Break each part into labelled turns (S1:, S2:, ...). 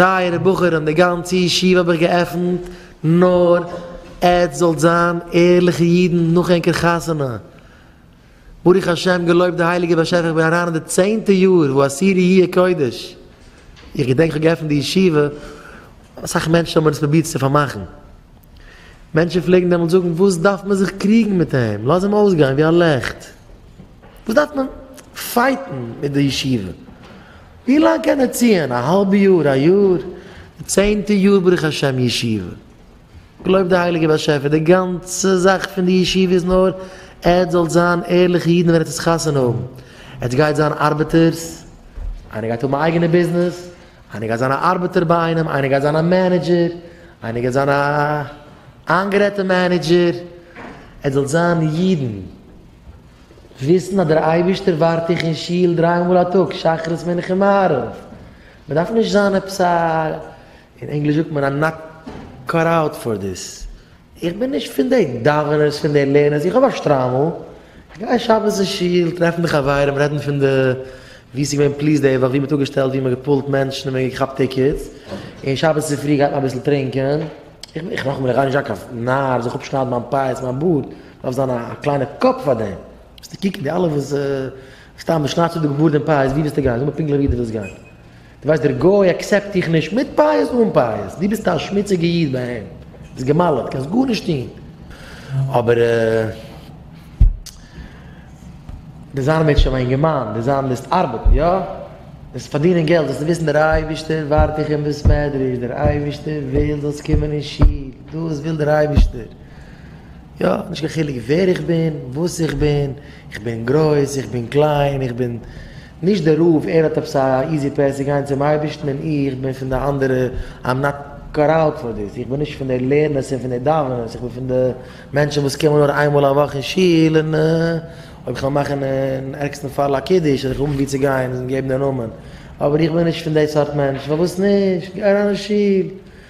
S1: טייערע בחורים די גאנצע ישיבה האב איך געעפנט נאר עטץ זאלט זיין ערליכע אידן נאך ענקער חתונה, ברוך השם געלויבט די הייליגע באשעפער איך בין אריין אין די צענטע יאר וואו אסירי י ע קודש, איך געדענק איך האב געעפנט די ישיבה אסאך מענטשן האבן עס פרובירט צו פארמאכן, מענטשן פלעגן דעמאלטס זאגן וואס דארף מען זיך קריגן מיט אים לאז אים אויסגיין ווי א לעכט, וואס דארף מען פייטן מיט די ישיבה, ווי לאנג קען ער ציען? א האלבע יאר? א יאר? די צענטע יאר ברוך השם ישיבה. געלויבט די הייליגע באשעפער די גאנצע זאך פון די ישיבה איז נאר עטס זאלט זיין ערליכע אידן ווען עטס וועט חתונה האבן, עטס גייט זיין ארבעטערס, איינער גייט האבן א אייגענע ביזנעס, איינער גייט זיין א ארבעטער ביי איינעם, איינער גייט זיין א מענעדזשער, איינער גייט זיין א איינגערעדטע מענעדזשער, עטס זאלט זיין אידן. וויסן אז דער אייבערשטער ווארט דיך אין שול דריי מאל א טאג, שחרית מנחה און מעריב. מען דארף נישט זיין עפעס א, אין ענגליש זאגט מען א נאט קאט אוט פאר דיס. איך בין נישט פון די דאווענערס, פון די לערנערס, איך האב א שטריימל, איך גיי שבת אין שול, טרעפן די חברים, רעדן פון די ווי ס'געווען פליס די וואך, ווי מ'האט אפגעשטעלט, ווי מ'האט געפולט מענטשן און מ'האט געכאפט טיקעטס, און שבת צופרי גייט מען אביסל טרינקען. איך נאכאמאל, איך גיי נישט זיין קיין נאר, זיך אפשניידן מיין פאות, מיין בארד, דארף זיין א קליינע קאפ פאר דעם, וועסטו קוקן די אלע וואס סתם מען שניידט צו די גאר דעם פייעס ווי וועסטו גיין, זאג מיר פונקטליך ווי דו ווילסט גיין, דו ווייסט דער גוי אקסעפט דיך נישט מיט פייעס אן פייעס, דו ביסט א שמוציגע איד ביי אים, ביסט געמאלעט, קענסט גארנישט טון, אבער דו זיין מיט שם א אינגערמאן, דו זיין מוזט ארבעטן, יא, מוזט פארדינען געלט, זאלסטו וויסן דער אייבערשטער ווארט דיך אין בית מדרש, דער אייבערשטער וויל זאלסט קומען אין שול, דאס וויל דער אייבערשטער. יא, נישט קיין חילוק ווער איך בין, וואס איך בין, איך בין גרויס, איך בין קליין, איך בין נישט דער רב, ער האט עפעס א איזי פעס צו גיין צום אייבערשטן און איך בין פון די אנדערע, איים נאט קאט אוט פאר דיס, איך בין נישט פון די לערנערס און פון די דאווענערס, איך בין פון די מענטשן וואס קומען נאר איין מאל א וואך אין שול און אויב איך וועל מאכן אין ערגסטן פאל א קידוש וועל איך האבן וואו צו גיין און געבן די נאמען, אבער איך בין נישט פון די סארט מענטש, פארוואס נישט? גיי אריין אין שול,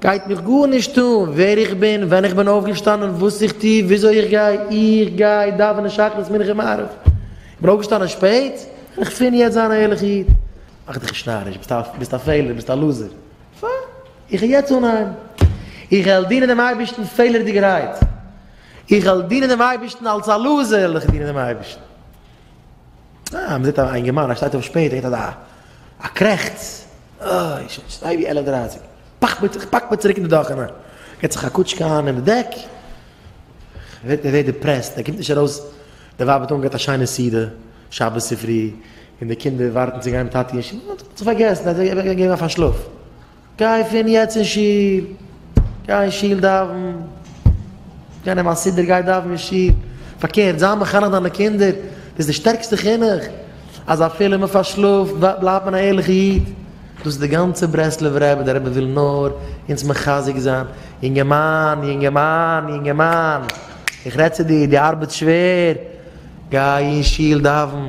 S1: גייט מיך גארנישט אן ווער איך בין, ווען איך בין אויפגעשטאנען, וואס איך טו, וויאזוי איך גיי, איך גיי דאווענען שחרית מנחה און מעריב, איך בין אויפגעשטאנען שפעט, וועל איך פון יעצט זיין א ערליכע איד. מאך דיך נישט נאריש, ביסט א ביסט א פעלער, ביסט א לוזער, פיין, איך העל יעצט אן אהיים, איך העל דינען דעם אייבערשטן פעלערדיגערהייט, איך העל דינען דעם אייבערשטן אלס א לוזער העל איך דינען דעם אייבערשטן. אה, מען זעט א אינגערמאן ער שטייט אויף שפעט ער געט א. א קרעכץ, אוי, שוין שטיי ווי עלף דרייסיג, פאק מיר, איך פאק מיר צוריק אין די דאך אריין, געט זיך א קוטשקע איין אין די דעק, ער ווערט, ער ווערט דיפרעסט, ער קומט נישט ארויס, די ווייב האט אנגעהאט א שיינע סעודה שבת צופרי, און די קינדער ווארטן צו גיין מיט טאטי אין שול, ער האט זיך פארגעסן, ער האט זיך געגעבן א פארשלאף. גיי פון יעצט אין שול, גיי אין שול דאווען, גיי נעם א סידור גיי דאווען אין שול, פארקערט זיי מחנך דיינע קינדער, דאס איז די שטערקסטע חינוך, אז אפילו מען פארשלאפט בלייבט מען א ערליכע איד, דאס איז די גאנצע ברסלב'ע רבי, דער רבי וויל נאר אונז מחזק זיין, יונגערמאן, יונגערמאן, יונגערמאן, איך רעד צו דיר, דו ארבעטסט שווער, גיי אין שול דאווען,